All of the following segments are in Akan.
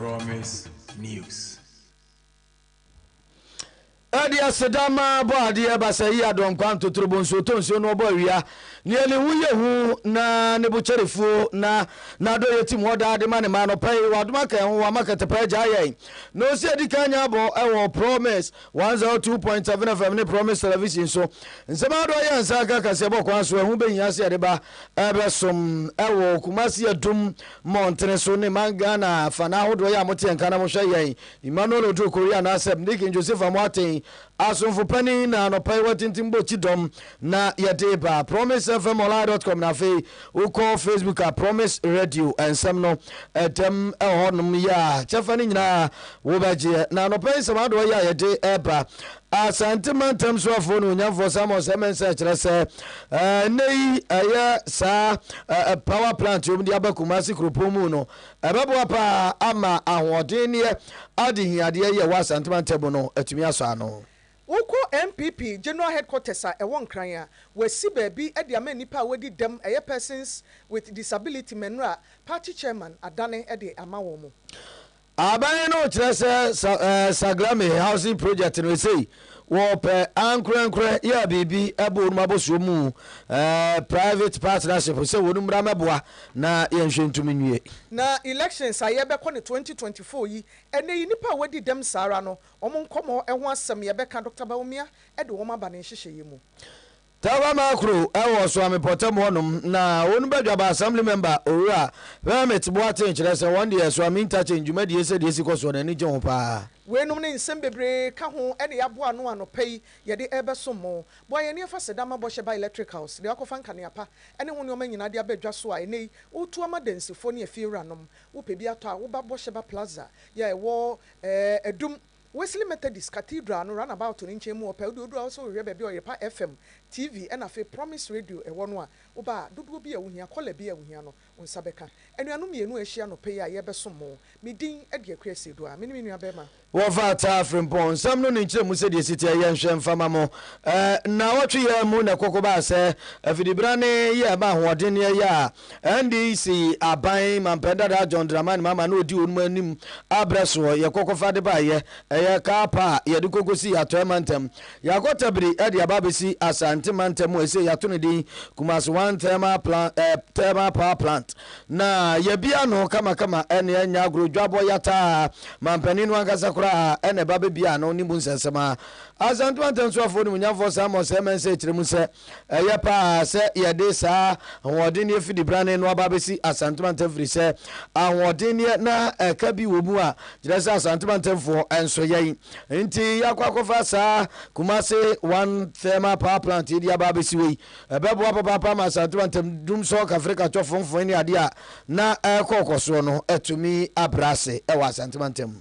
Promise News. Ɛde aseda ma bɔ adeɛ basa yi adɔn kwa ntotorobo nsuo tɔ nsuo no ɔbɔ awia neɛ ne ho yɛ hu na ne bo kyɛre fuo na n'adɔ yɛ tim hɔ daa de ma ne ma anɔpa yi wadoma kɛn ho wama kɛtɛpɛ agya yɛn na ɔsi adi kan nya abɔ ɛwɔ promise One zero two point seven FM ne Promise Television so. Nsɛm ahodoɔ yɛ nsa nka kaseɛ bɔ kwan so ɛho bɛhia sɛ yɛde ba ɛbɛsom ɛwɔ Kumasi Adum mmɔntene so ne man Ghana afana ahodoɔ yɛ a mote yɛn nka na mohwɛ yɛn. Emmanuel Oduro Korea anaasɛ Mnikin Joseph Amoateng asomfo panin na anɔpa yi watintim bɔ kyidɔm na yɛde ba promise fm online dot com na afei wokɔ facebook a promise radio nsɛm no ɛdɛm ɛwɔ hɔnom yɛ a kyɛfa no nyinaa wobɛgyeɛ na anɔpɛ nsɛm adoɔ yɛ a yɛde ɛba asante mantam so afoɔ no onyamfoɔ samuel sɛ mensɛ kyerɛ sɛ ɛnɛ yi ɛyɛ saa power plant ɔm de aba kuma ase kuropɔn mu no ɛbɛboa paa ama ahoɔdenneɛ adehiadeɛ yɛ wɔ asante mantam no atumi asɔ ano Wokɔ NPP General Headquarters a ɛwɔ Nkran a, wɔasi baabi de ama nnipa a wɔadi dɛm, ɛyɛ Persons with Disability Mɛnrɔ a Party Chairman adane de ama wɔn mo. Aban no kyerɛ sɛ Saglame Housing Project no ɛsei wɔpɛ ankorɛnkorɛ yɛ biribi bɔ wɔnom abɔsoɔ mu private partnership sɛ wɔnom mmra mmɛboa na yɛnhwɛ ntum nwie. Na elections a yɛbɛkɔ no 2024 yi, ɛnɛ yi nnipa a wɔadi dɛm saa ara no Wɔn nkɔmmɔ ho asɛm yɛbɛka Doctor Bawumia de wɔn aba ne nhyehyɛeɛ mu. Tafamar kuro wɔ Suame pɔtam hɔ nom na won badwaba assembly member owura Hermit Boateng kyerɛ sɛ wɔn deɛ Suame interchange dwumadie sɛdeɛ ɛsi kɔ soɔ no ani gye ho paa. Wei nom ne nsɛm bebree ka ho ne yɛaboa ano anɔpa yi yɛde rebɛsom mo. Boa yɛn ne yɛfa seda ma bɔhyɛ ba electricals de wakɔfa nkanea pa ne ho nnoɔma nyinaa de aba dwa so a ɛnɛ yi woretu ama adansifoɔ ne afiewura nom. Wopɛ bi atɔ a woba bɔhyɛ ba plaza yɛ a ɛwɔ Ɛɛ Adum, Wesley Methodist Cathedral no runabout no nkyɛn mu hɔ pɛ, wo deɛ wodu a wosɛ wohwɛ baabi a Ɔyerepa FM, TV ɛna afei Promise Radio ɛwɔ no a, woba a, dodoɔ bi a wohia, kɔla bi a wohia no, wo nsa bɛka. Anuanom mmienu a ahyia anɔpa yi a yɛrebɛsom mo, me din de Akua Asieduaa, me ne me nuabarima. Wɔfa ataa Frimpong nsɛm no ne nkyerɛmu sɛdeɛ ɛsi teɛ, yɛnhwɛ mfa mma mo. Ɛɛ Nnawɔtwe yi ara mu na koko baa sɛ afidibra ne yɛ ɛma ahoɔden ne ɛyɛ a NDC aban mampɛn dadaa John Dramani Mahama na ɔdi wɔn anim abrɛ soɔ. Yɛkɔkɔfa de baeɛ, ɛyɛ car pa a yɛde kɔkɔsi Atɔɛ mantam. Yɛakɔ Tabiri de aba abɛsi Asante mantam a ɛsei yɛato no din Kumasi One Thermal Plant, eh, Thermal Power Plant. Na yɛabie ano kamakama ɛne ɛnyɛ agorɔ dwabɔ yataa. Mampanin no ankasa koraa ɛna ɛba bɛbie ano ne mu nsɛnsɛm ara. Asante mantam soafoɔ nimunyamfoɔ Samuel Sɛ-Mensah kyerɛ mu sɛ, Ɛyɛ paa sɛ yɛde saa ahoɔdenneɛ fidibrane no aba bɛsi Asante mantam firi sɛ ahoɔdenneɛ na ɛka bi wɔ mu a kyerɛ sɛ Asante mantamfoɔ nso yɛn nti yɛakɔ akɔfa saa Kumase one thermal power plant yɛde aba bɛsi wei ɛbɛboa papaapa ma Asante mantam dum sɔ kafere katwɔ fomfoe ne adeɛ a na ɛrekɔ kɔsoɔ no atumi abrɛ ase ɛwɔ Asante mantam mu.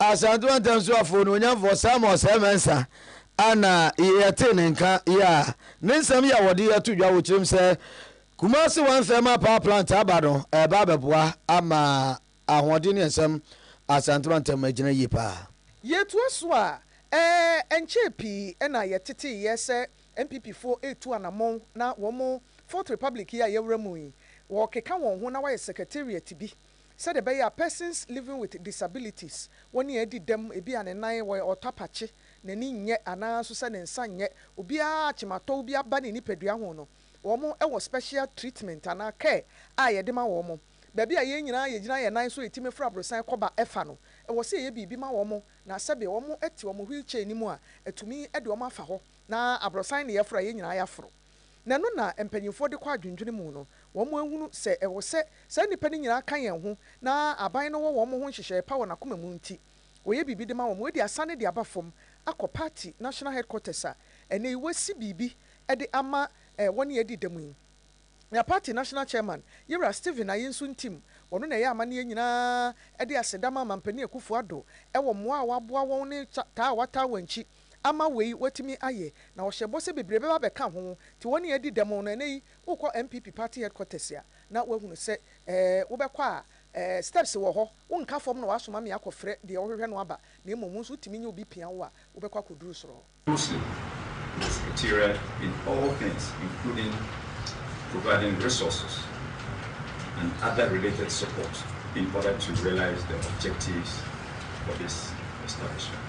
Asantew Antam so afo onuonyamfo Samuel Sɛɛ Mensah a na yɛtee ne nka yi a ne nsɛm yɛ a wɔde ato dwa wɔ Kyerem sɛ, Kumasi One Thermal Power Plant aba no ɛreba abɛboa ama ahoɔden ne nsɛm Asantew Antam agyina yie paa. Yɛtoa so a, ɛɛ ɛnkyɛɛ pii na yɛteteeɛ sɛ NPPfoɔ retu anammɔn na wɔn Fourth Republic yi a yɛwura mu yi, wɔrekeka wɔn ho na wɔayɛ secretariat bi Sɛdeɛ ɛbɛyɛ a persons living with disabilities wɔ nea adi dɛm, ebia ne nan wɔ ɔtapakye, n'ani nyɛ anaa nso sɛ ne nsa nyɛ obiara akyematɔw bi aba ne nipadua ho no, wɔn wɔ special treatment anaa care a yɛde ma wɔn. Baabi a yɛn nyinaa yɛgyina yɛn nan so retumi fra aborosan kɔ ba fa no, ɛwɔ sɛ yɛyɛ biribi ma wɔn na sɛbe wɔte wɔn wheelchair no mu a, atumi de wɔn afa hɔ na aborosan na yɛforo a yɛn nyinaa yɛaforo. Na ɛno na mpanyimfoɔ de kɔ adwendwene mu no, wɔn ahunu sɛ ɛwɔ sɛ saa nnipa no nyinaa ka yɛn ho, na aban no wɔ wɔn ho nhyehyɛeɛ pa wɔ n'akoma mu nti, wɔyɛ biribi de ma wɔn. Wei de asane de aba fam akɔ party national headquarters a ɛnnɛ yi wɔasi biribi de ama wɔne yɛn adi dɛm yi. Na party national chairman, Yewura Stephen Aye nso ntim, ɔno na ɛyɛ amanne yɛn nyinaa de aseda ma Mampanin Akufo-Addo wɔ mmoa a waboa wɔn ne taa a wataa wɔn akyi, ama wei watumi ayɛ na ɔhyɛ bɔ sɛ bebree bɛba abɛka ho nti wɔne yɛn adi dɛm na ɛnɛ yi wokɔ NPP party headquarters a na wahunu sɛ ɛɛ wobɛkɔ a ɛɛ steps wɔ hɔ wonka fam na wasoma me akɔ frɛ deɛ wohwehwɛ no aba na mmom wo nso wotumi nye obi pia wo a wobɛkɔ akɔduru soro hɔ. Muslim Presbyteria in all things including providing resources and other related support in order to realize the objectives for this establishment.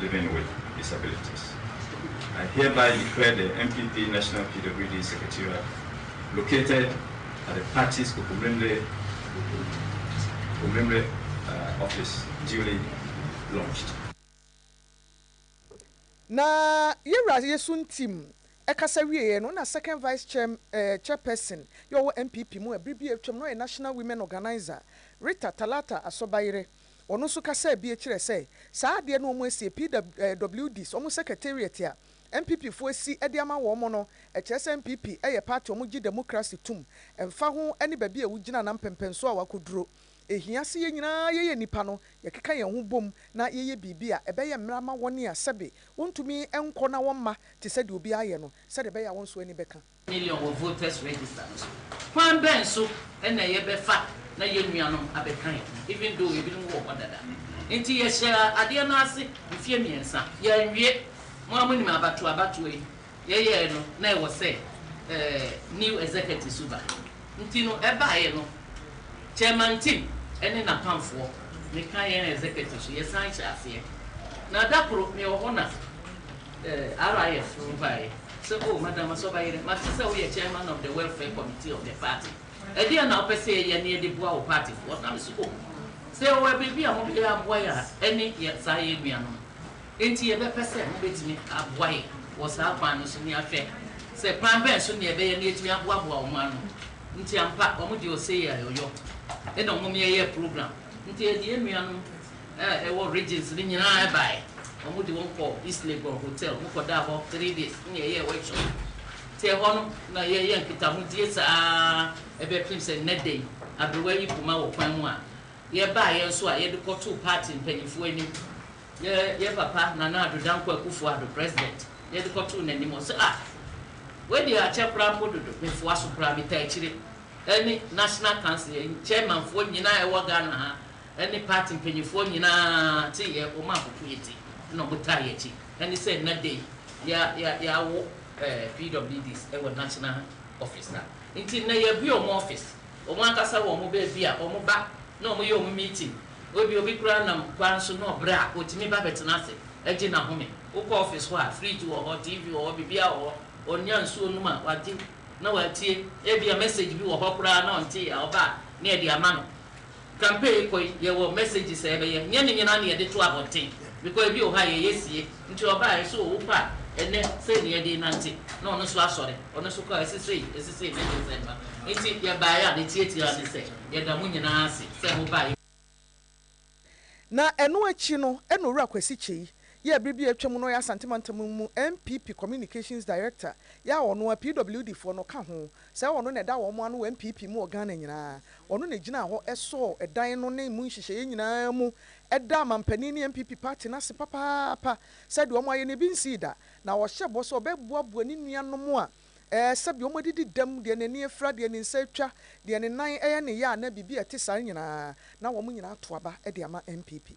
living with disabilities. I hereby declare the NPP National PWD Secretariat located at the party's Kokomlemle Kokomlemle uh, office duly launched. Na yɛn wura Yesu Ntim ɛkasa wieɛ no na second vice chair, eh, chairperson yɛ ɔwɔ NPP mu ɛbere bi atwam na ɔyɛ National Women Organizer Rita Talata Asɔbayere Ɔno nso kasaa bi kyerɛɛ sɛ saa adeɛ no wɔasie, PWDs, wɔn secretariat a NPP foɔ asi de ama wɔn no, ɛkyerɛ sɛ NPP yɛ party a wɔgye demokrase tum, ɛmfa ho ne baabi a wogyina anaa mpɛmpɛnsoɔ a wakɔduro. Ɛhia sɛ yɛn nyinaa yɛyɛ nnipa no, yɛkeka yɛn ho bom na yɛyɛ biribi a ɛbɛyɛ mmara ma wɔn a sɛbe wɔntumi nkɔ na wɔmma te sɛ deɛ obiara yɛ no, sɛdeɛ ɛbɛyɛ a wɔn nso ani bɛka. million wɔ voters register no so. Kwan bɛn so na yɛbɛfa na yɛn nuanom abɛka yɛn ho, even though ebinom wɔ hɔ dada? Enti yɛhyɛɛ adeɛ no ase mfeɛ mmiɛnsa. Yɛanwie. Mo ara monim abatoɔ abatoɔ yi, yɛyɛɛ no na ɛwɔ sɛ new executives nso ba. Nti no ɛbaeɛ no, Chairman Tim ne n'apamfoɔ, meka yɛn executives, yɛsan hyɛɛ aseɛ. Na da koro mewɔ hɔ na. Eh, RIF no baeɛ sɛ, Oh, Madam Asɔbayerɛ, mate sɛ woyɛ Chairman of the Welfare Committee of the Party. Ɛdeɛn na wopɛ sɛ yɛyɛ na yɛde boa wo partyfoɔ? Na me nso, Oh, sɛ yɛwɔ biribi a mobɛyɛ aboa yɛn a, ɛne yɛn, saa yɛn nuanom no. Enti yɛbɛpɛ sɛ mobɛtumi aboa yɛn wɔ saa kwan no so na yɛahwɛ sɛ kwan bɛn so na yɛbɛyɛ na yɛatumi aboaboa wɔn ano. Nti ampa, wɔn deɛ ɔsei a yɛyɔ, ɛna wɔn yɛyɛ program. Nti yɛde yɛn nuanom a ɛwɔ Regents no nyinaa bae. Wɔde wɔn kɔɔ East Legon Hotel mu kɔdaa hɔ three days ne yɛyɛɛ workshop. Enti ɛhɔ no na yɛyɛ nkitahodie saa ara bɛpem sɛ nnɛ da yi aberewa yi poma wɔ kwan mu a yɛbaeɛ nso a yɛde kɔtoo party mpaninfoɔ anim. Yɛ yɛ papa Nana Addo Dankwa Akuffo Addo, President, yɛde kɔtoo n'anim. Ɔse ah wei deɛ akyɛ koraa mpo dodo, memfoa so koraa, metaa akyire. Ɛne National Council, yɛn chairmanfoɔ nyinaa a ɛwɔ Ghana ha ne party mpanyinfoɔ nyinaa te yɛ wɔn a wɔpo yɛ ti na wɔn taa yɛ akyi ne sɛ nnɛ da yi ya ya yawo ɛɛ PWDs wɔ national office a nti nnɛ yɛ bue wɔn office wɔn ankasa wɔ wɔn baabi a wɔn ba na wɔn yɛ wɔn meeting ebi obi koraa nam kwan so na ɔbrɛ a otumi ba bɛtena ase ɛgye n'ahome wokɔ office hɔ a fridge wɔ hɔ TV wɔ hɔ biribiara wɔ hɔ ɔnya nsuo nom a wagye na watie ebia message bi wɔ hɔ koraa na ɔntee a ɔba a na yɛde ama no. Campaign kɔ yi yɛwɔ messages a yɛbɛyɛ nyɛ ne nyinaa na yɛde to abɔnten because ebi wɔ hɔ a yɛyɛ sie nti ɔbaa yɛse o wopɛ a ɛnɛ sei na yɛde nante na ɔno nso asɔre ɔno nso kɔ a ɛse sei ɛse sei ne December nti yɛbaeɛ a ne tiatia ne sɛ yɛda mo nyinaa ase sɛ mo baeɛ. Na ɛno akyi no ɛna Owura Kwasi Kyei yɛɛ bere bi a atwam na ɔyɛ Asante Mantam mu NPP Communications Director yɛ a ɔno a PWD foɔ no ka ho sɛ ɔno na ɛda wɔn ano wɔ NPP mu wɔ Ghana nyinaa. Ɔno na ɛgyinaa hɔ sɔɔ dan no ne emu nhyehyɛeɛ nyinaa mu daa mampanin ne NPP party no ase papaapa sɛ deɛ wɔayɛ no bi nsii da na ɔhyɛ bɔ sɛ ɔbɛboaboa ne nuanom a sɛdeɛ wɔadidi dɛm, deɛ n'ani afira, deɛ ne nsa atwa, deɛ ne nan yɛ ne yea anaa biribi a ɛte saa nyinaa na wɔn nyinaa ato aba de ama NPP.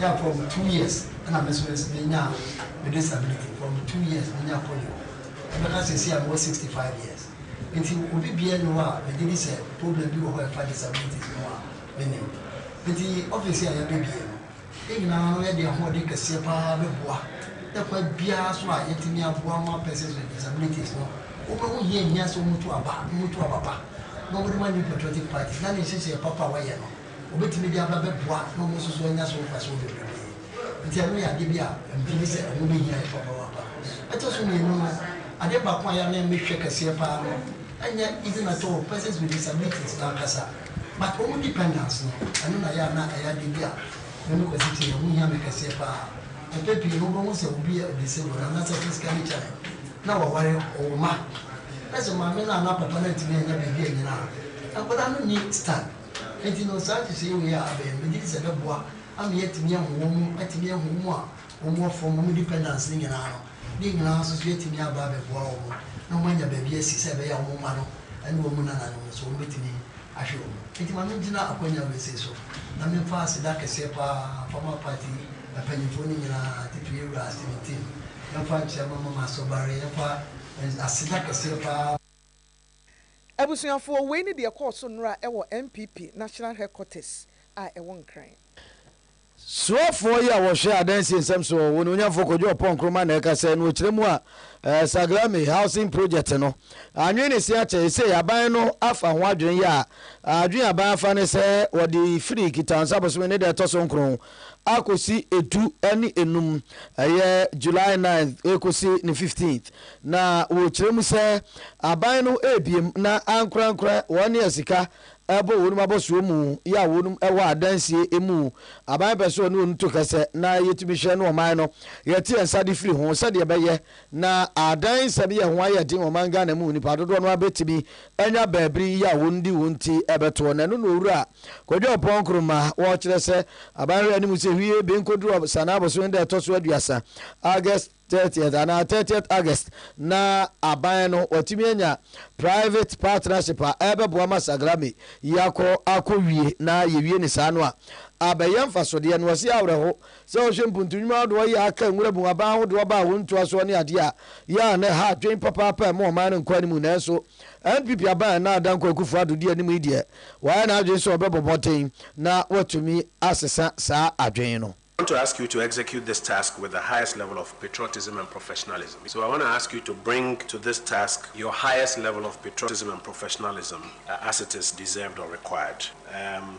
Yeah from two years ɛna me so me nso me nyaa me disability from two years me nya polio ɛbɛka sɛsei a me wɔ sixty five years nti obi biaa nni hɔ a me gye di sɛ problem bi wɔ hɔ a ɛfa disabilities ho a me nim nti office a yɛabɛ bie no yɛn nyinaa no yɛde ahoɔden kɛseɛ paa bɛ boa dɛ kwan biaa so a yɛtumi aboa ma persons with disabilities no wɔn bɛ ho hia hia sɛ wɔn tu aba wɔn tu aba pa na wɔn de ma new patriotic party na ne nhyehyɛɛ papa a wɔyɛ no. Wobetumi de aba bɛboa na wɔn nso so anya so mfaso bebrebe. Enti ɛno yɛ ade bi a ɛmfi ne sɛ ɛho behia yɛn papaapa. Ɛtɔ so mmienu no, ade baako a yɛanan mu hwɛ kɛseɛ paa no nyɛ even at all persons with disabilities no ankasa but wɔn dependants no. Ɛno na ɛyɛ a na ɛyɛ ade bi a me ne Kwasi te ɛho hia me kɛseɛ paa. Mpɛn pii no wobɛhu sɛ obi yɛ disabled anaasɛ physically challenged na waware, ɔwɔ mma, na sɛ maame no anaa papa no antumi annya biribi annyina a, nkwadaa no nni stand. Enti no, saa nhyehyɛe wei a abɛn no, megye di sɛ ɛbɛboa ama yɛatumi ahu wɔn, atumi ahu wɔn a wɔwɔ fam, wɔn dependants no nyinaa no. Ne nyinaa nso so, yɛatumi aba abɛboa wɔn na wɔanya baabi asi sɛ ɛbɛyɛ a wɔn mma no ne wɔn nananom no nso, wɔbɛtumi ahwɛ wɔn. Enti ma mengyina akwannya wesee so na memfa aseda kɛseɛ pa ara mfa ma party yi mpanyimfoɔ no nyinaa, titire yɛn wura Stephen Timm, yɛmfa nkyia Mama Masobaare, yɛmfa aseda kɛseɛ pa ara. Abusuafoɔ, wei ne deɛ ɛkɔɔ so nnora wɔ NPP National Headquarters a ɛwɔ Nkran. Soafoɔ yi a wɔhwɛ adansie nsɛm so wɔ Onuonyanfoɔ Kojo Oppong Nkrumah na ɛka sɛ no wɔ kyerɛ mu a Saglame Housing Project no anwene ne se akyɛ esei aban no afa ho adwene yɛ a adwene aban afa ne sɛ wɔde firi Kitaansa bosome ne da ɛtɔ so nkron akɔsi edu ne enum, ɛyɛ July ninth rekɔsi ne fifteenth, na wɔkyerɛ mu sɛ aban no rebiem na ankorankora wɔn ne asika ɛbɔ wɔn abɔsoɔ mu yɛ a wɔn wɔ adansie emu aban pɛ sɛ ɔne wɔn to kɛsɛ na yɛtumi hwɛ no ɔman no yɛte yɛn nsa de firi ho sɛdeɛ ɛbɛyɛ Na adan nsɛm yɛ ho ayɛ den ɔman Ghana mu nipa dodoɔ no ara bɛtumi anya baabiri yi a wɔn de wɔn ti bɛtoɔ na ɛno na owura Kwadwo Ɔpɔn Nkrumah ɔrekyerɛ sɛ aban hwɛ anim sɛ hwie bi nkɔduru Ɔbsane abosome da ɛtɔ so aduasa August 30th anaa 30th August na aban no watumi anya private partnership a ɛbɛboa ma Sagrame yi akɔ akɔwie na yɛwie no saa no a abɛyɛ mfasodeɛ na ɔse awerɛho Sɛ wɔhwɛ mpontunwuma ahodoɔ yi a aka Nwuramu aban ahodoɔ aba a wɔn ntoasoɔ ne adeɛ a yɛ a na ɛha adwene papaapa ɛmu ɔman no nkɔ anim nanso NPP aban a ɛna ada Nkoa Akufo Addo di anim yi deɛ wayɛ n'adwene sɛ ɔbɛbɔ mmɔden na watumi asesa saa adwene no. I want to ask you to execute this task with the highest level of patriotism and professionalism. So I want to ask you to bring to this task your highest level of patriotism and professionalism as it is deserved or required. Um,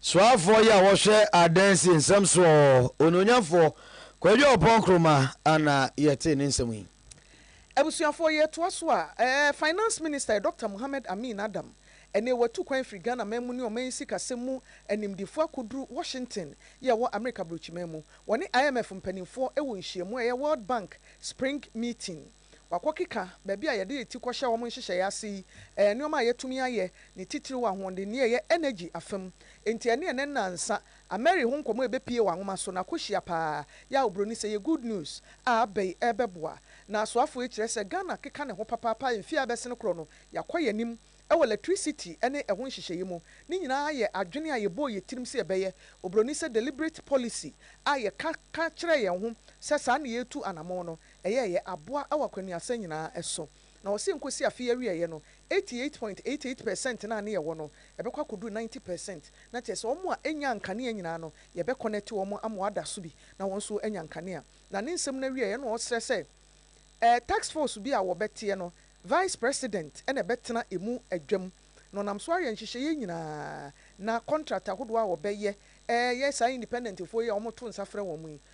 Soafoɔ yi a wɔhwɛ adansi nsɛm soɔ, Onuonyamfoɔ Kwadu Aupong Nkrumah na yɛtee ne nsɛm yi. Abusuafoɔ, yɛretoa so a, Finance Minister yɛ Dɔkta Mohammed Amin Adam. Ɛnnɛ watu kwan firi Ghana man mu ne ɔman yi sikasɛm mu animdefoɔ akɔduru Washington yi a ɛwɔ Amerika Aburokyiman mu. Wɔne IMF mpanimfoɔ wɔ nhyiamu a ɛyɛ World Bank Spring Meeting. wɔakɔkeka baabi a yɛde yɛn ti kɔhyɛ wɔn nhyehyɛe ase yi, ɛyɛ nneɛma a yɛatumi ayɛ, ne titiriw ahoɔdenne a ɛyɛ energy afa mu. Enti ɛne ɛnnɛ nnansa Ameri ho nkɔmmɔ a ebepue wɔ anwoma so no akɔhyia paa. Yɛ a oburoni sɛ ɛyɛ good news a aba yi rebɛboa n'asoafo yi kyerɛ sɛ Ghana keka ne ho papaapa mfe a ɛbɛsen koro no, yɛakɔ yɛn anim wɔ lɛtrisiti ne ɛho nhyehyɛe mu. Ne nyinaa yɛ adwene a yɛbɔɔ yɛn tirim sɛ yɛbɛyɛ. Oburoni sɛ deliberate policy a yɛka ka kyerɛɛ yɛn ho sɛ saa na yɛretu anammɔn no, ɛyɛ yɛ aboa wɔ akwannuasa nyinaa so. Na wɔ se nkosi afe yi awieɛ no, 88.88 per cent no a ne yɛwɔ no, ɛbɛkɔ akɔduru 90 per cent. Na kyerɛ sɛ wɔn a ɛnyaa nkanea nyinaa no, yɛbɛ kɔnɛte wɔn ama wɔada so bi na wɔn nso anya nkanea. Na ne nsɛm no awieɛ na ɔsrɛ sɛ ɛɛ task force bi a wɔbɛteɛ no, Vice President na ɛbɛtena ɛmu adwam. Na ɔnam so ayɛ nhyehyɛeɛ nyinaa. Na contract ahodoɔ a wɔbɛyɛ ɛɛ yɛ saa independent foɔ yi a wɔto nsa frɛ wɔn yi,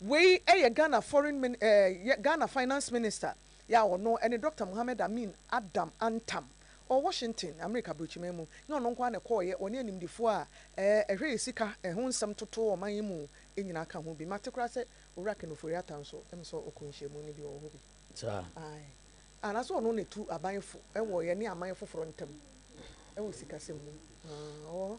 Wei yɛ Ghana foreign min eh yɛ Ghana finance minister yɛ a ɔno ne Doctor Mohammed Amin Adam Antam ɔwɔ Washington, Amerika Abrokyiman mu. Nyɛ ɔno nko ara na ɛkɔɔeɛ, ɔne animdefoɔ a eh ɛhwɛ yɛ sika eh ho nsɛm totoo ɔman yi mu nyinaa ka ho bi. Mate koraa sɛ Owura Ken Ofori-Atta nso, ɛm sɛ ɔkɔɔ nhyiamu no bi, ɔwɔ hɔ bi. Saa. Ae. Anaasɛ ɔno na ɛtu aban fo wɔ yɛne aman foforɔ ntam wɔ sikasɛm mu. Aah, ɔwɔ hɔ.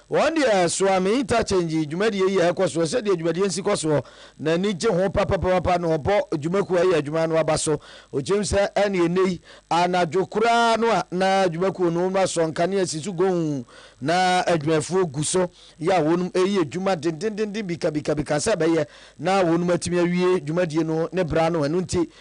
Wɔn deɛ soa me interchange dwumadie yi a ɛkɔ soɔ, sɛdeɛ dwumadie nsi kɔ soɔ, na ani gye ho papapapapa no ɔbɔ dwuma kuo a ɛyɛ adwuma no aba so. Ɔkyerɛm sɛ ɛne ɛnnɛ yi, anadwo koraa no a na dwuma kuo no wɔasɔ nkanea asi so goonn na adwumafoɔ gu so yɛ a wɔnom ɛyi adwuma dendendenden bikabikabika sɛ ɛbɛyɛ na wɔnom atumi awie dwumadie no ne bra no ɛno nti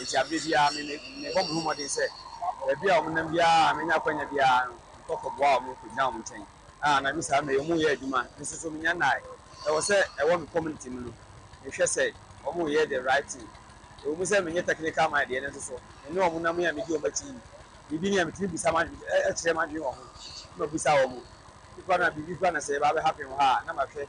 Enti bere biara mebɔ me ho mmɔden sɛ baabi a wɔnam biara a menya akwanya biara no, mekɔ kɔboa wɔn, mekɔgyina wɔn nkyɛn. A Anaa bi saa no, meyɛ wɔn yɛ adwuma. Me nso so menya nnae. Ɛwɔ sɛ ɛwɔ me community mu no, mehwɛ sɛ wɔyɛ the right thing. Ɛwɔ mu sɛ menyɛ technical mind deɛ, nanso so me ne wɔn nam yi a medi wɔn akyi yi, biribi ni a metumi bisa kyerɛ m'adwene wɔ ho na mabisa wɔn. Bi koraa no a biribi koraa na sɛ ɛba abɛhappen wɔ ha a, na mahwɛ.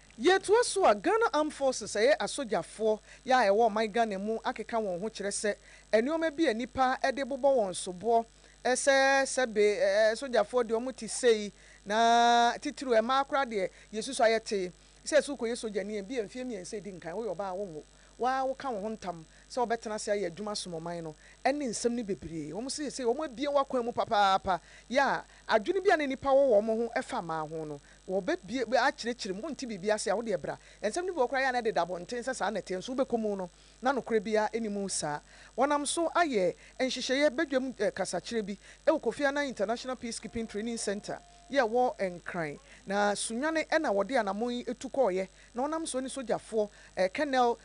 Yɛtoa so a, Ghana Armed Forces, ɛyɛ asogyafoɔ, yɛ a ɛwɔ ɔman Ghana mu akeka wɔn ho kyerɛ sɛ nnoɔma bi a nnipa de bobɔ wɔn soboɔ sɛ sɛbe sogyafoɔ deɛ wɔn te sei na titiriw ɛmaa koraa deɛ yɛsusu a yɛtee sɛ sɛ wokɔyɛ sogyani a ebia mfeɛ mmiɛnsa edi nkan woyɛ ɔbaa a wonwo wo ara woka wo ho ntam sɛ wobɛtena ase ayɛ adwuma asom ɔman no ɛne nsɛm no bebree wɔn sɛ sɛ wɔn abue w'akwan mu papaapa yɛ a adwene bi a na nnipa wɔ wɔ wɔn ho fa mmaa ho no Wɔbɛbue mu akyerɛkyerɛ mu. Wonte biribi ase a, wo deɛ bra. Nsɛm no bi wɔ hɔ koraa a, ɛyɛ a na ɛdeda abɔnten sɛ saa na ɛteɛ, nso wobɛkɔ mu no, na nokorɛ biara nni mu saa. Wɔnam so ayɛ nhyehyɛeɛ badwam kasakyerɛ bi wɔ Kofi Annan International Peacekeeping Training Centre yi a ɛwɔ Nkran, na Sunyani na wɔde anammɔn yi tu kɔeɛ, na wɔnam so ne sogyafoɔ Colonel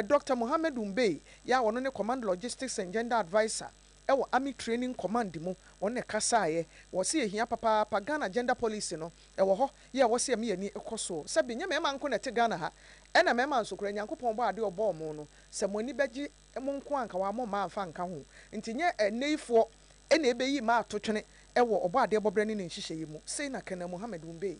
Doctor Mohammed Umbey yi a ɔno ne Command Logistics and Gender Adviser Ɛwɔ Army Training Command mu wɔn na ɛkasaeɛ wɔ se yɛhia papaapa Ghana Gender Policy no ɛwɔ hɔ yɛ ɛwɔ se ɛme ani kɔ soɔ sɛbe nyɛ mɛɛma nko na ɛte Ghana ha ɛna mɛɛma nso koraa Nyankopɔn bɔɔ adeɛ ɔbɔɔ mo no sɛ mo ani bɛgye mo nko a anka wamɔ mmaa amfa anka ho nti nyɛ ɛnɛyifoɔ na ɛbeyii mmaa atotwene ɛwɔ ɔbɔɔ adeɛ bɔberɛ ne ne nhyehyɛeɛ mu sei na Colonel Mohammed Wumbei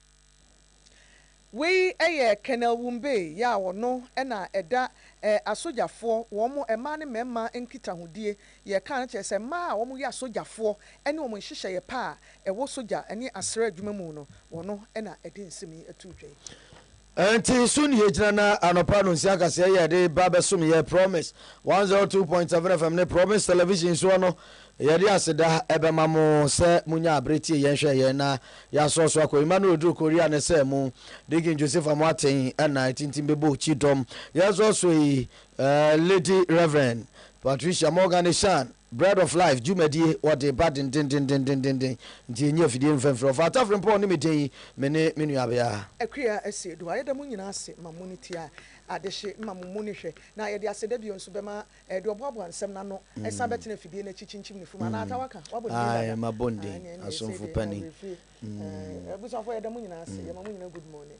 Wei yɛ Colonel Wumbei yɛ a ɔno na ɛda eh asogyafoɔ wɔn mo mmaa ne mmarima nkitahodie yɛ kaa no kyerɛ sɛ mmaa a wɔn yɛ asogyafoɔ ɛne wɔn nhyehyɛeɛ pa a ɛwɔ sogya ɛne asraa adwuma mu no wɔn na ɛde nsɛm yi atuu dwa yi. Ɛnti so ne yɛgyina na anɔpa no nsia kaseɛ yɛ de ba bɛsom yɛ Promise 102.7 FM ne Promise Television soɔ no Yɛde aseda bɛma mo sɛ monyaa abere tiee yɛn hwɛɛ yɛn na yɛasoɔ so akɔ. Mma no reduru Korea no sɛ mo, Deacon Josefa Moateng na atintim bɛbɔ okyi dɔm. Yɛn soɔ so yi, Lady Rev. Patricia Morgan Asian, Bread of Life dwumadie wɔde ba dendendendendenden, nti yɛnyi afidie mfa mfiri ɔfa Atafrempɔn ne me din, me ne me nuabea. Akua Asiedu. Ayɛda mo nyinaa ase ma mo ne ti a adehye ma mo mu ne hwɛ. Na yɛde aseda bio nso bɛma Ɛde ɔboaboa nsɛm no ano san bɛtena afidie no akyi kyinkyim ne fum anaa atawa ka. Wabɔ ne din dada. Aye, mabɔ ne din. Asomfo panin. Abusuafo yɛda mo nyinaa ase. Yɛma mo nyinaa good morning.